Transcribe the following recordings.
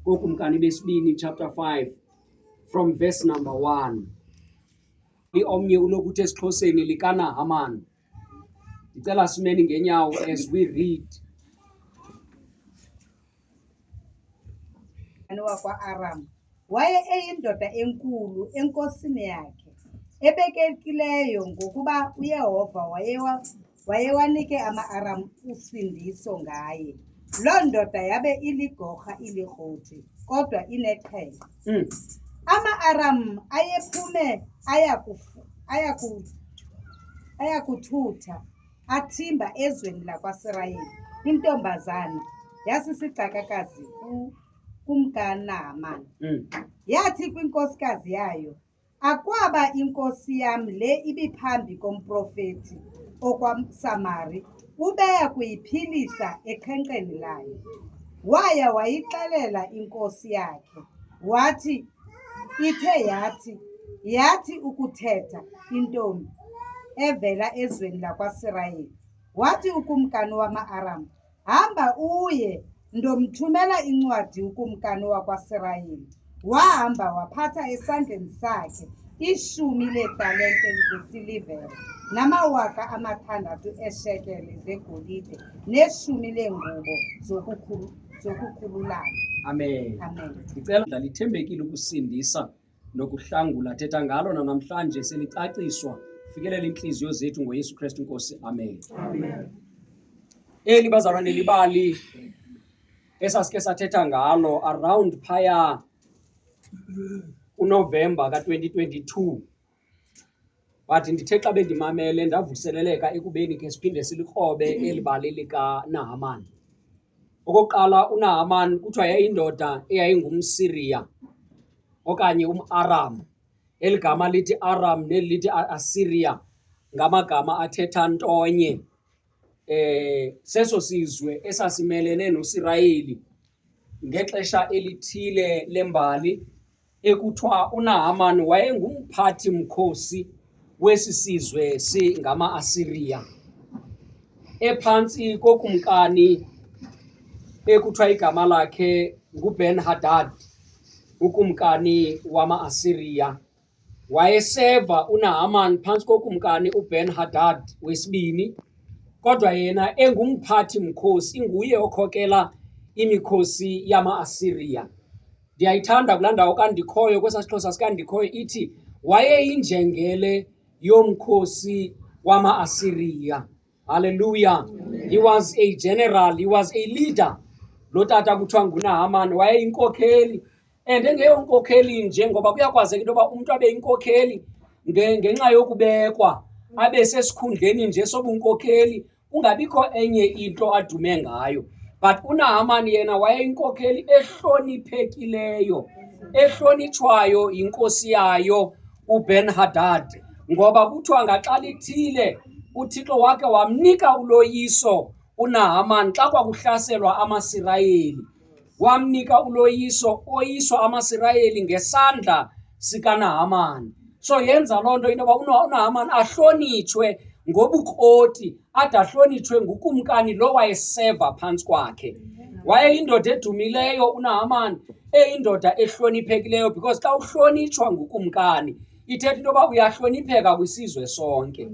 kokumkani besibini chapter 5 from verse number 1 liomnye ulokuthi esixhoseni likanahaman ndicela simeni ngenyawo as we read wakwa-aram Waye eyindoda enkulu enkosini yakhe, ebekekileyo ngokuba uYehova wayewa, wayewanike ama-Aram usindiso ngaye. Loo ndoda yabe iligorha ilirhoti, kodwa inexhele. Mm. Ama-Aram ayephume aya kufu- aya ku- aya kuthutha athimba ezweni lakwaSirayeli, intombazana yasisigcakakazi ku- kumkaNaamani. Mm. Yathi kwinkosikazi yayo, Akwaba inkosi yam le ibiphambi komprofeti okwaSamari, ubeya kuyiphilisa ekhenkceni layo. Waya wayixelela inkosi yakhe, wathi, Ithe yathi, yathi ukuthetha intombi evela ezweni lakwaSirayeli, wathi ukumkani wama-Aram, Hamba uye, ndomthumela incwadi ukumkani wakwaSirayeli. Wahamba waphatha esandleni sakhe ishumi leetalente zesilivere namawaka amathandathu eeshekele zegolide neshumi leengubo zokukhululana. Amen. Amen. Ndicela ndalithembekile ukusindisa nokuhlangula thetha ngalo nanamhlanje selicaciswa fikelela iintliziyo zethu ngoyesu kristu nkosi amen, amen. eli bazalwane libali esasike sathetha ngalo around phaya kunovemba ka-2022 but ndithe xa bendimamele ndavuseleleka ekubeni ke siphinde silikrobe eli bali likaNahamani. Okokuqala uNahamani kuthiwa yayindoda eyayingumSiriya okanye umAram. Eli gama lithi Aram neli lithi Asiriya ngamagama athetha ntonye. eh seso sizwe esasimelene noSirayeli ngexesha elithile lembali ekuthiwa uNahaman wayengumphathi mkhosi wesi sizwe singama-Asiriya ephantsi kokumkani ekuthiwa igama lakhe nguBen Hadad ukumkani wama-Asiriya Wayeseva uNahaman phantsi kokumkani uBen-Hadad wesibini, kodwa yena engumphathi mkhosi, inguye okhokela imikhosi yama-Asiriya. Ndiyayithanda kulaa ndawo kandikhoyo kwesaa siXhosa sikandikhoyo ithi wayeyinjengele yomkhosi wama-Asiriya. Haleluya. He was a general, he was a leader. Lo tata kuthiwa nguNahaman wayeyinkokheli and engeyonkokheli nje ngoba kuyakwazeka into yoba umntu abe inkokheli ngenxa yokubekwa abe sesikhundleni nje sobunkokheli kungabikho enye into adume ngayo but unahamani yena wayeyinkokheli ehloniphekileyo ehlonitshwayo yinkosi yayo uben hadad ngoba kuthiwa ngaxa lithile uthixo wakhe wamnika uloyiso unahamani xa kwakuhlaselwa amasirayeli wamnika uloyiso oyiswa amasirayeli ngesandla sikanahamani so yenza loo nto into yoba unahamani ahlonitshwe ngobukroti ade ahlonitshwe ngukumkani lo wayeseva phantsi kwakhe wayeyindoda edumileyo unahamani eyindoda ehloniphekileyo because xa uhlonitshwa ngukumkani ithetha into yoba uyahlonipheka kwisizwe sonke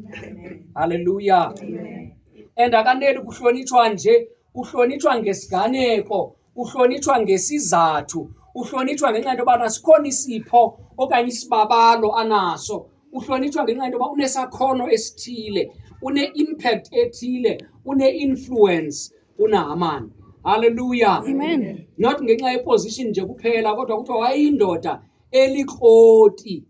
halleluya and akaneli kuhlonitshwa nje uhlonitshwa ngesiganeko uhlonitshwa ngesizathu uhlonitshwa ngenxa yento yobana sikhona isipho okanye isibabalo anaso uhlonitshwa ngenxa yento yoba unesakhono esithile une-impact ethile une-influence unahamani halleluya not ngenxa yeposition nje kuphela kodwa kuthiwa wayeyindoda elikroti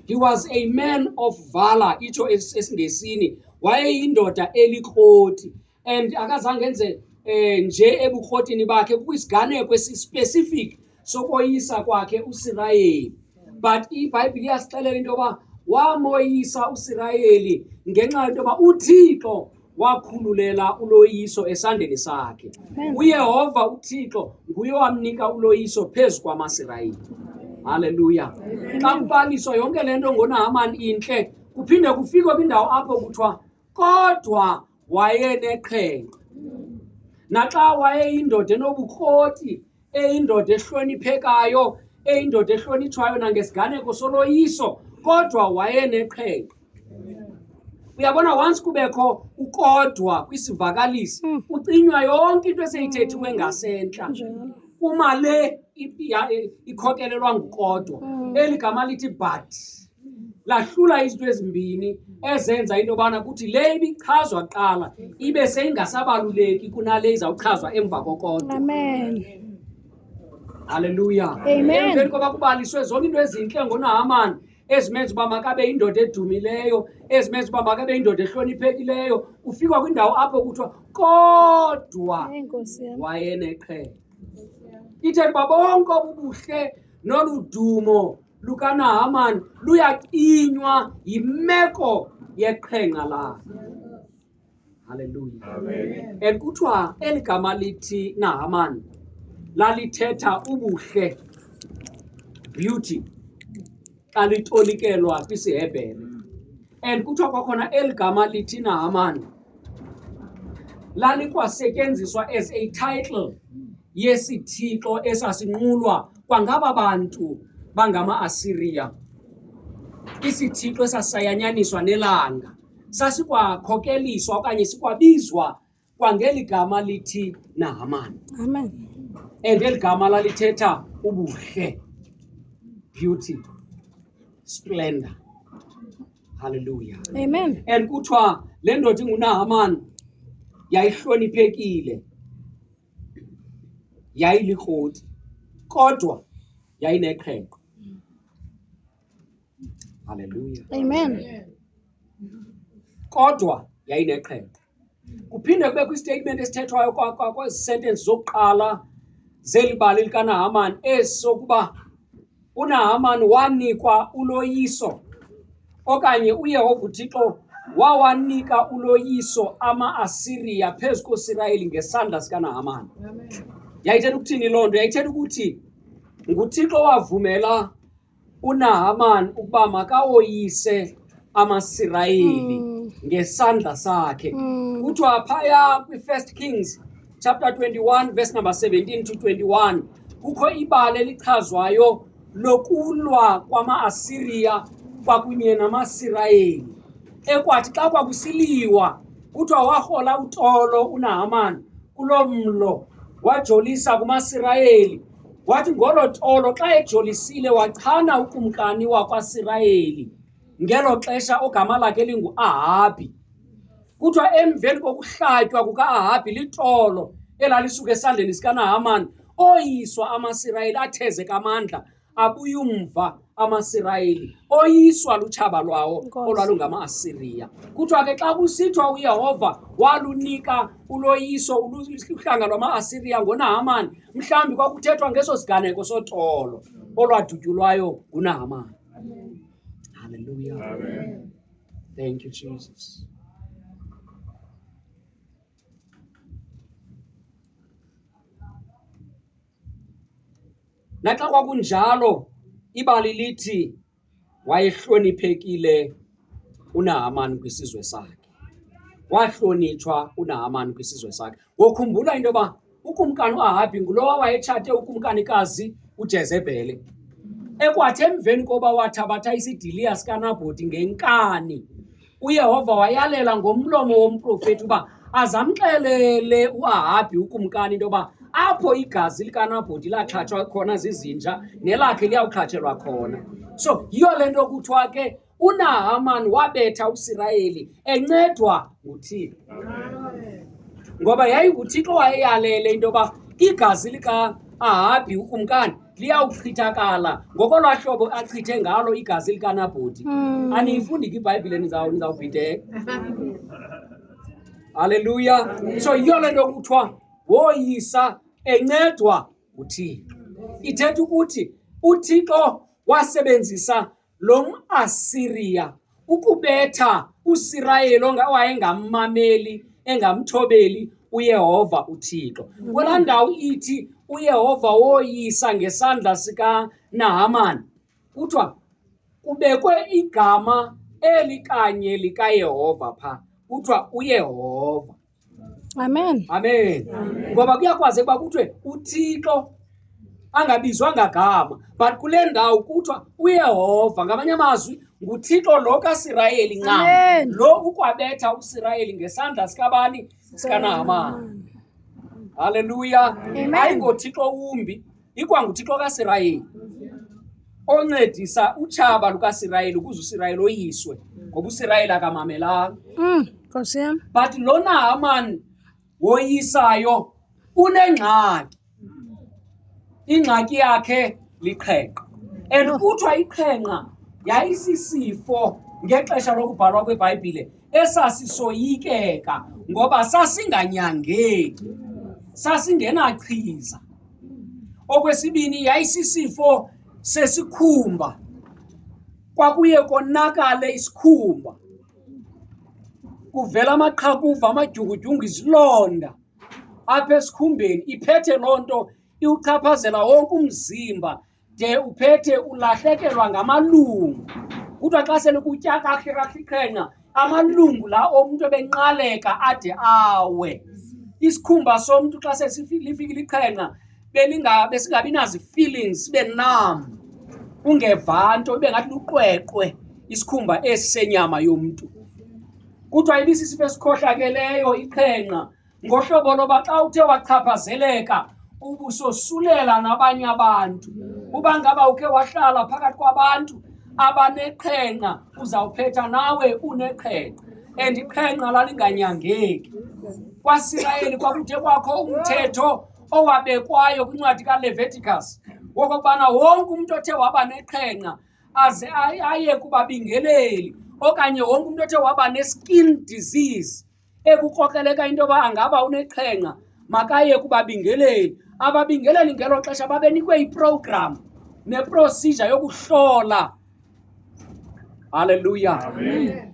he was a man of valor itsho esingesini wayeyindoda elikroti and akazange enze eh nje ebukrotini bakhe kwisiganeko esispecific sokoyisa kwakhe uSirayeli but iBhayibhile iyasixelela into yoba wamoyisa uSirayeli ngenxa yento yoba uThixo wakhululela uloyiso esandleni sakhe uyehova uthixo nguye owamnika uloyiso phezu kwamasirayeli halleluya xa kubaliswa yonke le nto ngonahamani intle kuphinde kufikwe kwindawo apho kuthiwa kodwa wayeneqhenqa naxa wayeyindoda enobukroti eyindoda ehloniphekayo eyindoda ehlonitshwayo nangesiganeko soloyiso kodwa wayeneqhenqa uyabona once kubekho ukodwa kwisivakalisi hmm. ucinywa yonke into eseyithethiwe ngasentla uma le ikhokelelwa ngukodwa hmm. eli gama lithi but lahlula izinto ezimbini ezenza into yobana kuthi le ibichazwa kuqala ibe seyingasabaluleki kunale izawuchazwa emva kokodwa halleluya emveni koba kubaliswe zonke into ezintle ngonahamani ezimenza uba makabe yindoda edumileyo ezimenza uba makabe yindoda ehloniphekileyo ufikwa kwindawo apho kuthiwa kodwa wayeneqhele ithetha uba bonke obubuhle nolu dumo lukanahamani luyakinywa yimeko yeqhenqa lakhe haleluya and kuthiwa eli gama lithi nahamani lalithetha ubuhle beauty xa litolikelwa kwisihebhere and kuthiwa kwakhona eli gama lithi nahamani lalikwasetyenziswa as a title yesithixo esasinqulwa kwangaba bantu bangama-asiriya isithixo esasisayanyaniswa nelanga sasikwakhokeliswa okanye sikwabizwa kwangeli gama lithi nahamani amen and eli gama lalithetha ubuhle beauty splendor halleluya Amen. and kuthiwa le ndoda ingunahamani yayihloniphekile yayilikroti kodwa yayineqhenqe halleluya Amen. kodwa yayineqhenqe kuphinde kubekho istatement esithethwayo kwezi sentence zokuqala zeli bali likanahamani esokuba unahamani wanikwa uloyiso okanye uyehova uthixo wawanika uloyiso ama-asiriya phezu koosirayeli ngesandla sikanahamani yayithetha ukuthini loo nto yayithetha ukuthi nguthixo wavumela uNahaman ukuba makawoyise amaSirayeli mm. ngesandla sakhe mm. kuthiwa phaya kwi-first kings chapter 21 verse number 17 to 21 kukho ibali elichazwayo lokulwa kwama-asiriya kwakunye namasirayeli ekwathi xa kwakusiliwa kuthiwa warhola utolo unahamani kuloo mlo wajolisa kumasirayeli Wathi ngolo tolo xa ejolisile wachana ukumkani wakwaSirayeli ngelo xesha ogama lakhe linguAhabi. Kuthiwa emveni kokuhlatywa kukaAhabi litolo elalisuka esandleni sikaNahamani, oyiswa amaSirayeli athezeka amandla abuyumva amasirayeli oyiswa lutshaba lwawo olwalungama-asiriya kuthiwa ke xa kusithiwa uyehova walunika uloyiso uhlanga lwama-asiriya ngonahamani mhlawumbi kwakuthethwa ngeso siganeko sotolo olwadutyulwayo ngunahamani halleluya thank you jesus Naxa kwakunjalo, ibali lithi wayehloniphekile uNahamani kwisizwe sakhe. Wahlonitshwa uNahamani kwisizwe sakhe. Ngokhumbula into yoba ukumkani uAhabi ngulowa wayetshate ukumkanikazi uJezebhele. Ekwathi emveni koba wathabatha isidiliya sikaNabhoti ngenkani uyehova wayalela ngomlomo womprofeti uba aze amxelele uahabhi ukumkani into yoba apho igazi likanabhoti laxhatshwa khona zizinja nelakhe liyawuxhatshelwa khona so yiyo le nto kuthiwa ke unahamani wabetha usirayeli encedwa nguthixo ngoba yayinguthixo wayeyalele into yoba igazi lika-ahabhi ukumkani liyawuchithakala ngokolwaa hlobo achithe ngalo igazi likanabhoti hmm. aniyifundi ke ibhayibhile nizawubhideka halleluya so yiyo le nto kuthiwa woyisa encedwa nguthixo ithetha ukuthi uthixo wasebenzisa lo mAsiriya ukubetha uSirayeli owayengammameli engamthobeli uYehova uThixo. Mhm. Kula ndawo ithi uYehova woyisa ngesandla sikaNahamani kuthiwa kubekwe igama eli kanye likaYehova pha kuthiwa uYehova. amen amen ngoba kuyakwazeka uba kuthiwe uthixo angabizwa ngagama but kule ndawo kuthiwa uyehova ngamanye amazwi nguthixo lo kasirayeli ncam Amen. lo ukwabetha usirayeli ngesandla sikabani sikanahamani halleluya Amen. ayingothixo wumbi ikwanguthixo kasirayeli oncedisa utshaba lukasirayeli ukuze usirayeli oyiswe ngoba usirayeli akamamelanga mm, nkosi yam but lona hamani woyisayo unengxaki ingxaki yakhe liqhenqa and kuthiwa iqhenqa yayisisifo ngexesha lokubhalwa kwebhayibhile esasisoyikeka ngoba sasinganyangeki sasingenachiza okwesibini yayisisifo sesikhumba kwakuye konakale isikhumba kuvela amaqhakuva amadyungudyungu izilonda apha esikhumbeni iphethe loo nto iwuchaphazela wonke umzimba de uphethe ulahlekelwa ngamalungu kuthiwa xa sele kutya kakrasiqhenqa amalungu la omntu ebenqaleka ade awe isikhumba somntu xa selifikile iqhenqa besingabi nazi-feelings sibe nam ungeva nto ibe ngathi luqweqwe isikhumba esi senyama yomntu kuthiwa ibisisifo esikhohlakeleyo iqhenqa ngohlobo loba xa uthe wachaphazeleka ubusosulela nabanye abantu uba ngaba ukhe wahlala phakathi kwabantu abaneqhenqa uzawuphetha nawe uneqhenqa and iqhenqa lalinganyangeki kwasirayeli kwakuthe kwakho umthetho owabekwayo kwincwadi kaleviticus wokokubana wonke umntu othe waba neqhenqa aze aye kubabingeleli okanye wonke umntu othe waba ne-skin disease ekukrokreleka into yoba angaba unexhenxa makaye kubabingeleli ababingeleli ngelo xesha babenikwe iprogram neprosija yokuhlola halleluya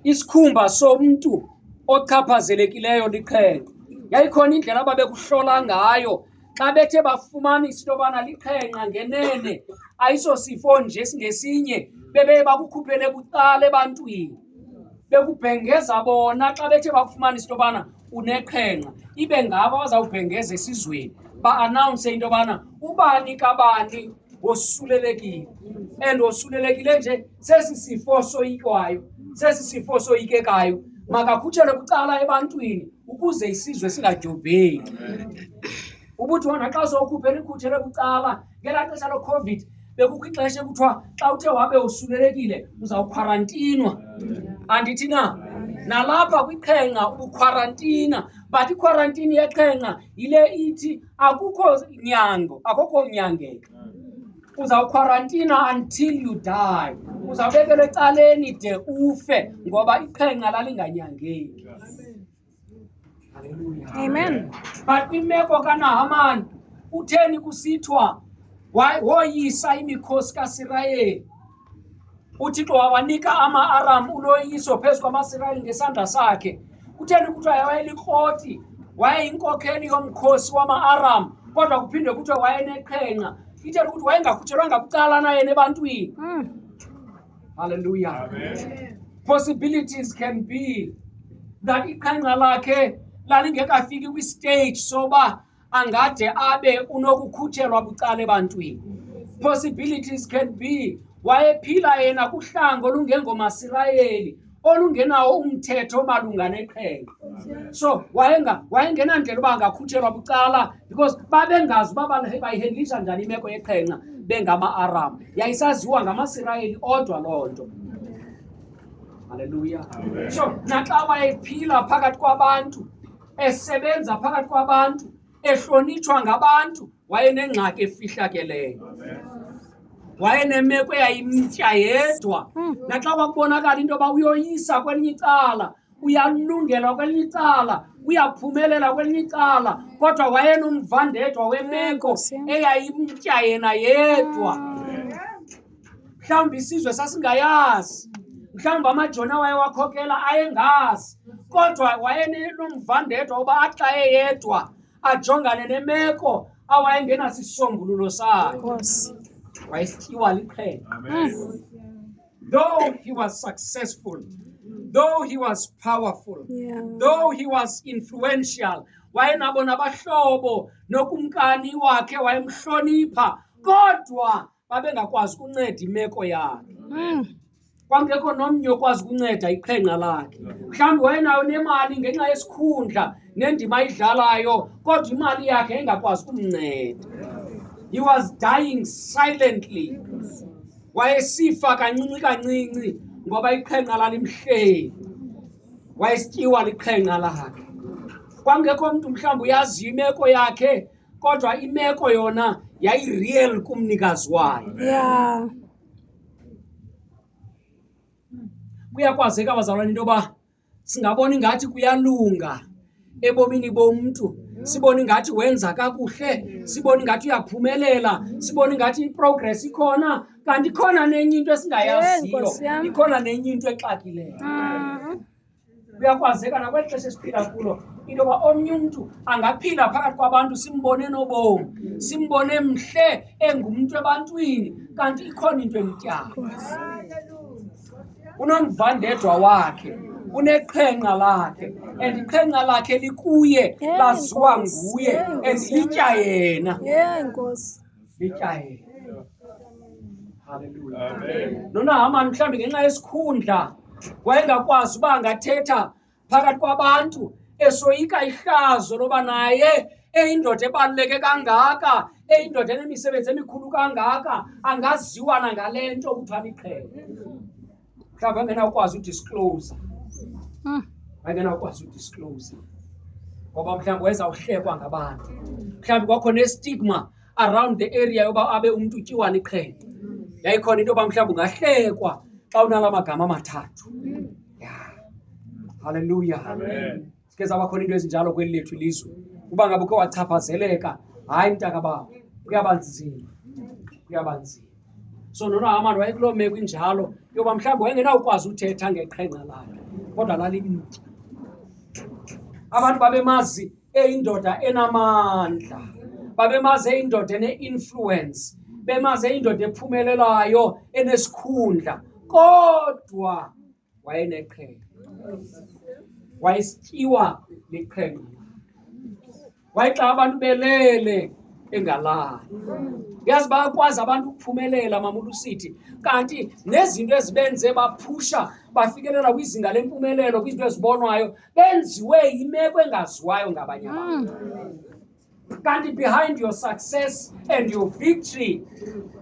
isikhumba somntu ochaphazelekileyo lixhenxa yayikhona indlela ababekuhlola ngayo xa bethe bafumanisa into yobana liqhenqa ngenene ayisosifo nje singesinye bebeye bakukhuphele bucala ebantwini bekubhengeza bona xa bethe bakufumanisa into yobana uneqhenqa ibe ngabo abazawubhengeza esizweni ba-anawunse into yobana ubani kabani wosulelekile and wosulelekile nje sesi sifo soyikwayo sesi sifo soyikekayo makakhutshelwe kucala ebantwini ukuze isizwe singadyobheki ubuthi wona xa sowukhuphe likhutshelwe kucala ngelaa xesha locovid bekukho ixesha ekuthiwa xa uthe wabe usulelekile uzawukhwarantinwa andithi na nalapha kwiqhenqa ubukhwarantina but ikhwarantini yeqhenqa yile ithi akukho nyango akukho nyangeka uzawukhwarantina until you die uzawubekelwa ecaleni de ufe ngoba iqhenqa lalinganyangeki amen but imeko kanahamani utheni kusithiwa woyisa imikhosi kasirayeli uthixo wawanika ama-aram uloyiso phezu kwamasirayeli ngesandla sakhe kutheni kuthiwa wayelikroti wayeyinkokheli yomkhosi wama-aram kodwa kuphinde kuthiwa wayeneqhenqa itheni ukuthi wayengakhutshelwanga kucala naye nebantwini hmm. halleluya possibilities can be that iqhenqa lakhe lalingekafiki kwistage soba angade abe unokukhutshelwa bucala ebantwini possibilities can be wayephila yena kuhlango olungengomasirayeli olungenawo umthetho omalunga neqhenqa so wayengenandlela uba angakhutshelwa bucala because babengazi uba bayihendlisha njani imeko yeqhenqa bengama-aram yayisaziwa ngamasirayeli odwa loo nto halleluya so naxa wayephila phakathi kwabantu esebenza phakathi kwabantu ehlonitshwa ngabantu wayenengxaki efihlakeleyo wayenemeko eyayimtya yedwa hmm. naxa kwakubonakala into yoba uyoyisa kwelinye icala uyalungelwa kwelinye icala uyaphumelela kwelinye icala kodwa wayenomvandedwa wemeko eyayimtya yena yedwa mhlawumbi isizwe sasingayazi mhlawumbi amajoni awaye wakhokela ayengazi kodwa wayenomvandedwa uba axa eyedwa ajongane nemeko awayengenasisombululo sayo wayesityiwa liqhele though he was successful though he was powerful yeah. though he was influential wayenabo nabahlobo nokumkani wakhe wayemhlonipha kodwa babengakwazi ukunceda imeko yakhe mm. kwakungekho nomnye okwazi ukunceda iqhenqa lakhe mhlawumbi wayenayo nemali ngenxa yesikhundla nendima ayidlalayo kodwa imali yakhe engakwazi ukumnceda he was dying silently wayesifa kancinci kancinci ngoba iqhenqa lalimhleli wayesityiwa liqhenqa lakhe kwakungekho mntu mhlawumbi uyaziyo imeko yakhe kodwa imeko yona yayireal kumnikazi wayo Yeah. kuyakwazeka bazalwane into yoba singabona ingathi kuyalunga ebomini bomntu sibone ingathi wenza kakuhle sibone ingathi uyaphumelela sibone ingathi iprogress ikhona kanti ikhona nenye into Yey, esingayaziyo Nkosi yam. ikhona nenye into exakileyo Mhm. kuyakwazeka nakweli xesha esiphila kulo into yoba omnye umntu angaphila phakathi kwabantu simbone nobomi simbone mhle engumntu ebantwini kanti ikhona into emtyanga unomvandedwa wakhe uneqhenqa lakhe and iqhenqa lakhe likuye laziwa nguye and litya yena lijayele haleluya Amen. nonahamani mhlawumbi ngenxa yesikhundla wayengakwazi uba angathetha phakathi kwabantu esoyika ihlazo loba naye eyindoda ebaluleke kangaka eyindoda enemisebenzi emikhulu kangaka angaziwa nangale nto kuthiwa liqhele mhlawumbi angenawukwazi udisclose hmm. angenawukwazi udisclose ngoba mhlawumbi wayezawuhlekwa ngabantu mhlawumbi kwakho nestigma around the area yoba abe umntu utyiwana iqhele yayikhona into yoba mhlawumbi ungahlekwa xa unala magama amathathu ya halleluya zike zabakhona into ezinjalo kweli lethu ilizwe uba ngabe ukhe wachaphazeleka hayi mntaka babo kuyaba nzima kuyaba nzima so nonohamani wayekuloo meko injalo yoba mhlawumbi wayengenawukwazi uthetha ngeqhenqa lakhe kodwa lalibitya abantu babemazi eyindoda enamandla babemazi eyindoda ene-influence bemazi eyindoda ephumelelayo enesikhundla kodwa wayeneqhele wayesityiwa liqhele wayexa abantu belele engalali yazi bayakwazi abantu ukuphumelela mamulu sithi kanti nezinto ezibenze baphusha bafikelela kwizinga lempumelelo kwizinto ezibonwayo benziwe yimeko engaziwayo ngabanye abantu mm. kanti behind your success and your victory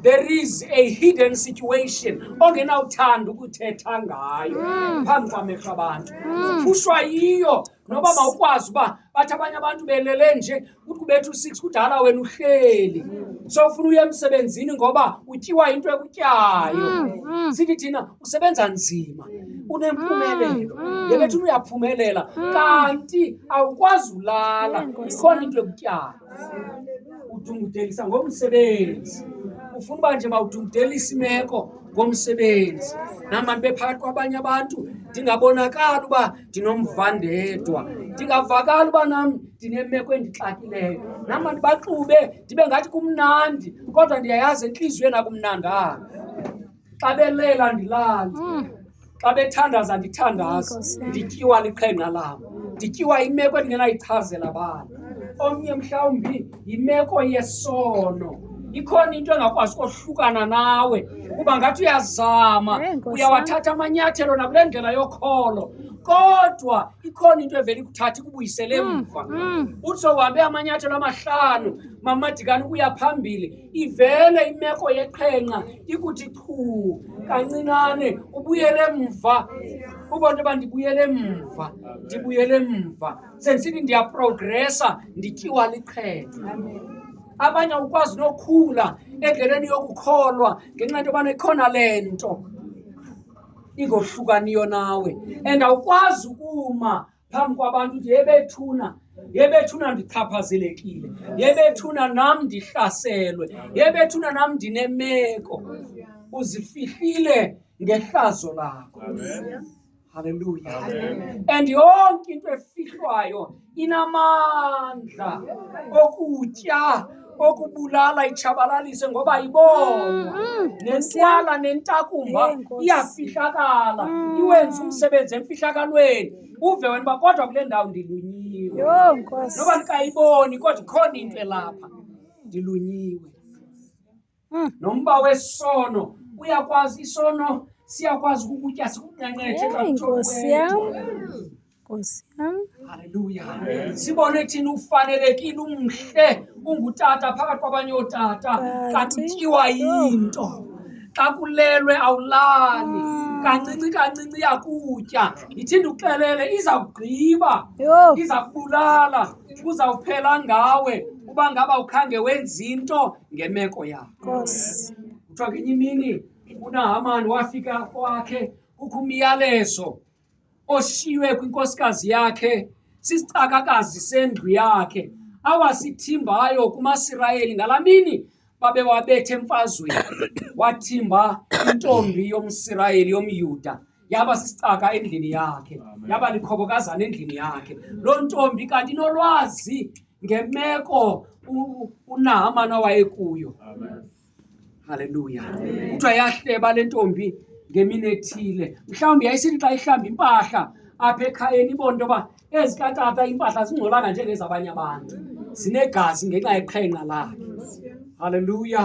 there is a hidden situation ongenawuthanda ukuthetha ngayo mm. phambi kwamehlo abantu uphushwa mm. yiyo noba mawukwazi uba bathi abanye abantu belele nje kuthi kubetha u-six kudala wena uhleli mm. so ufuna uye emsebenzini ngoba utyiwa into ekutyayo sithi thina usebenza nzima unempumelelo Mm, mm. yeke thina uyaphumelela Mm. kanti awukwazi ulala Yee, Nkosi ikhona yam. into ekutyala udungudelisa ngomsebenzi ufuna uba nje mawudungudelisa imeko ngomsebenzi nam bantu bephakathi kwabanye abantu ndingabonakali uba ndinomvandedwa ndingavakali uba nam ndinemeko endixakileyo nam bantu baxube ndibe ngathi kumnandi kodwa ndiyayazi entliziyweni akumnandanga xa belela ndilale mm. xa bethandaza ndithandaza ndityiwa liqhenqa lam ndityiwa imeko endingenayichazela bani omnye mhlawumbi yimeko yesono ikhona into engakwazi kohlukana nawe kuba ngathi uyazama uyawathatha amanyathelo nakule ndlela yokholo kodwa ikhona into evele ikuthatha ikubuyisele hmm, mva hmm. uthi sohambe amanyathelo amahlanu mamadikani ukuya phambili ivele imeko yeqhenqa ikuthi qhu kancinane ubuyele mva uba nto yoba ndibuyele mva ndibuyele mva sendisithi ndiyaprogresa ndityiwa liqhenqa abanye ukwazi nokhula endleleni yokukholwa ngenxa nto yobana ikhona le nto ingohlukaniyo nawe and awukwazi ukuma phambi kwabantu uthi yebethuna yebethuna ndichaphazelekile yebethuna nam ndihlaselwe yebethuna nam ndinemeko uzifihlile ngehlazo lakho halleluya and yonke into efihlwayo inamandla okutya okubulala itshabalalise ngoba ibonwa mm, mm. nentwala nentakumba iyafihlakala mm. iwenza umsebenzi emfihlakalweni uve wena uba kodwa kule ndawo ndilunyiwe noba ndikayiboni kodwa ikhona into elapha ndilunyiwe Mm. nomba wesono uyakwazi isono siyakwazi ukukutya sikunqenqetshe Yey, nkosi yam nkosi yam haleluya sibone thina ufanelekile umhle ungutata phakathi kwabanye ootata kanti utyiwa yinto xa kulelwe awulali kancinci kancinci yakutya ithinde uxelele iza kugqiba yho iza kubulala uzawuphela ngawe uba ngaba ukhange wenza into ngemeko yakho Nkosi. kuthiwa ngenye imini unahamani wafika kwakhe kukho umyalezo oshiywe kwinkosikazi yakhe sisicakakazi sendlu yakhe awasithimbayo kumasirayeli ngala mini babewabethe emfazweni wathimba intombi yomsirayeli yomyuda yaba sisicaka endlini yakhe yaba likhobokazana endlini yakhe loo ntombi kanti inolwazi ngemeko unahamani awayekuyo halleluya kuthiwa yahleba le ntombi ngemini ethile mhlawumbi yayisithi xa ihlamba impahla apha ekhayeni ibona into yoba ezikatata impahla zingcolanga njengezabanye abantu zinegazi ngenxa yeqhenqa lakhe halleluya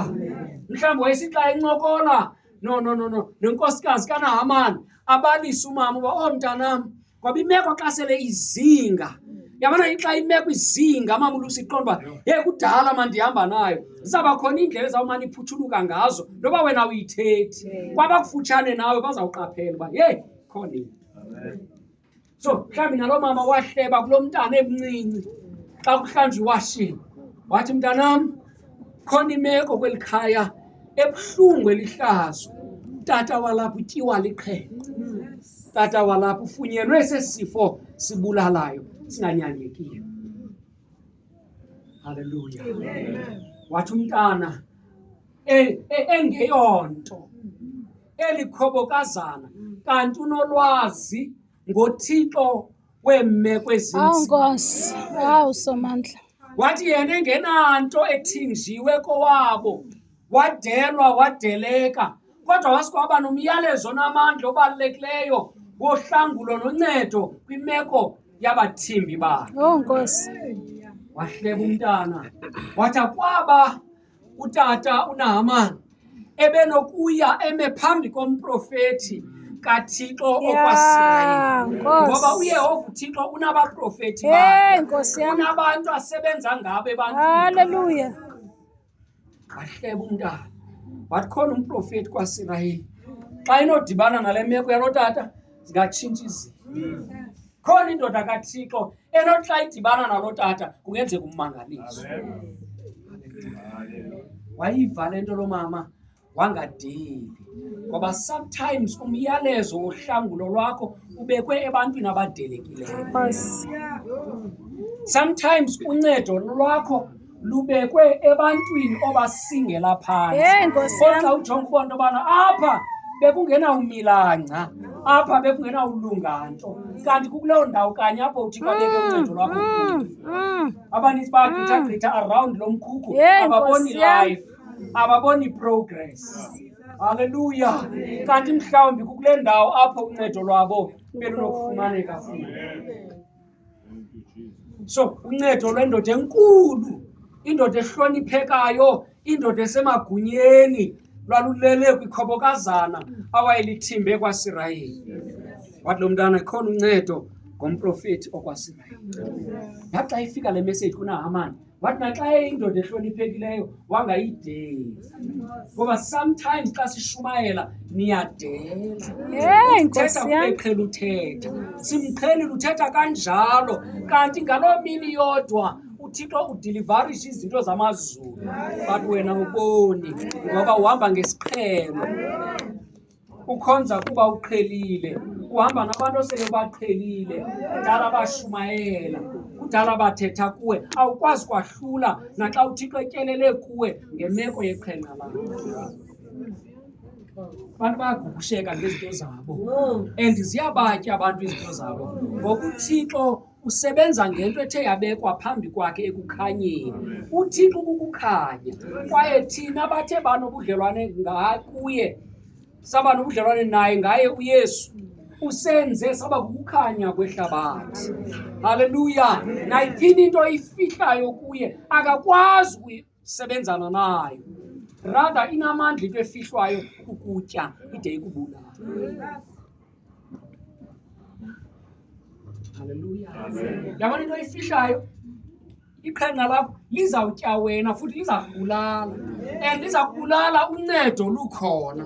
mhlawumbi wayesithi xa incokola no no no no nonkosikazi kanahamani abalise umama uba oh mntanam ngoba imeko xa sele izinga yabona xa imeko izinga mama ulusa iqonda uba ye kudala ma ndihamba nayo zizawuba khona iindlela ezawumane iphuthuluka ngazo noba wena uyithethi kwabakufutshane nawe bazawuqaphela uba yeyi khona into so mhlawumbi naloo mama wahleba kulo mntana emncinci xa kuhlanjwa iwashini wathi mntanam khona imeko kweli khaya ebuhlungu elihlazo tata walapha utyiwa liqhele tata walapha ufunyenwe sesifo sibulalayo singanyangekiyo halleluya wathi umntana e, e, engeyonto eli khobokazana kanti unolwazi ngothixo weemeko Awu ezinzima Nkosi, awu Somandla. wathi yena engenanto ethinjiwe kowabo wadelwa wadeleka kodwa wasikwaba nomyalezo onamandla obalulekileyo wohlangulo noncedo kwimeko yabathimbi bakhe Awu Nkosi. wahleba umntana wathi akwaba utata unahamani ebenokuya eme phambi komprofethi kathixo okwasirayeli ngoba uyehova uthixo unabaprofethi unabantu asebenza ngabo ebanthalleluya wahleba umntana wathi khona umprofethi kwasirayeli xa inodibana nale meko yalotata zingatshintsha izinto khona indoda kathixo enoxa idibana nalo tata kungenzeka ummangalisi wayiva le nto lo mama wangadeli ngoba sometimes umyalezo wohlangulo lwakho ubekwe ebantwini abadelekileyo sometimes uncedo lwakho lubekwe ebantwini obasingela phantsikodwa ujonga uba nto yobana apha bekungenawumilangca apha bekungenawulunga nto kanti kukuloo ndawo kanye apho uthixo abeke mm, uncedo lwakho mm, mm. abaninzi bagqithagqitha around lo mkhukhu ababoni life ababoni progress halleluya kanti mhlawumbi kukule ndawo apho uncedo lwabo belunokufumaneka futhi so uncedo lwendoda enkulu indoda ehloniphekayo indoda esemagunyeni lwalulele kwikhobokazana awayelithimbe ekwasirayeli wathi lo mntana khona uncedo ngomprofeti okwasirayeli yaxa ifika le meseji kunahamani wathi naxa eyindoda ehloniphekileyo wangayideli ngoba sometimes xa sishumayela niyadelauthetha kubeqhela uthetha simqhelile uthetha kanjalo kanti ngaloo mini yodwa uthixo udilivarishe izinto zamazulu but wena uboni ngoba uhamba ngesiqhelo ukhonza kuba uqhelile uhamba nabantu osele baqhelile kudala bashumayela kudala bathetha kuwe awukwazi kwahlula naxa uthixo etyelele kuwe ngemeko yeqhenqa lakho abantu bayagugusheka ngezinto zabo and ziyabatya abantu izinto zabo ngokuthixo usebenza ngento ethe yabekwa phambi kwakhe ekukhanyeni uthixo kukukhanya kwaye thina bathe banobudlelwane ngakuye saba nobudlelwane naye ngaye uyesu usenze saba kukukhanya kwehlabathi haleluya nayithini into ifihlayo kuye akakwazi sebenzana nayo ratha inamandla into efihlwayo kukutya ide ikubulala halleluya yabona into efihlayo iqhenqa lakho lizawutya wena futhi liza kubulala and liza kubulala uncedo lukhona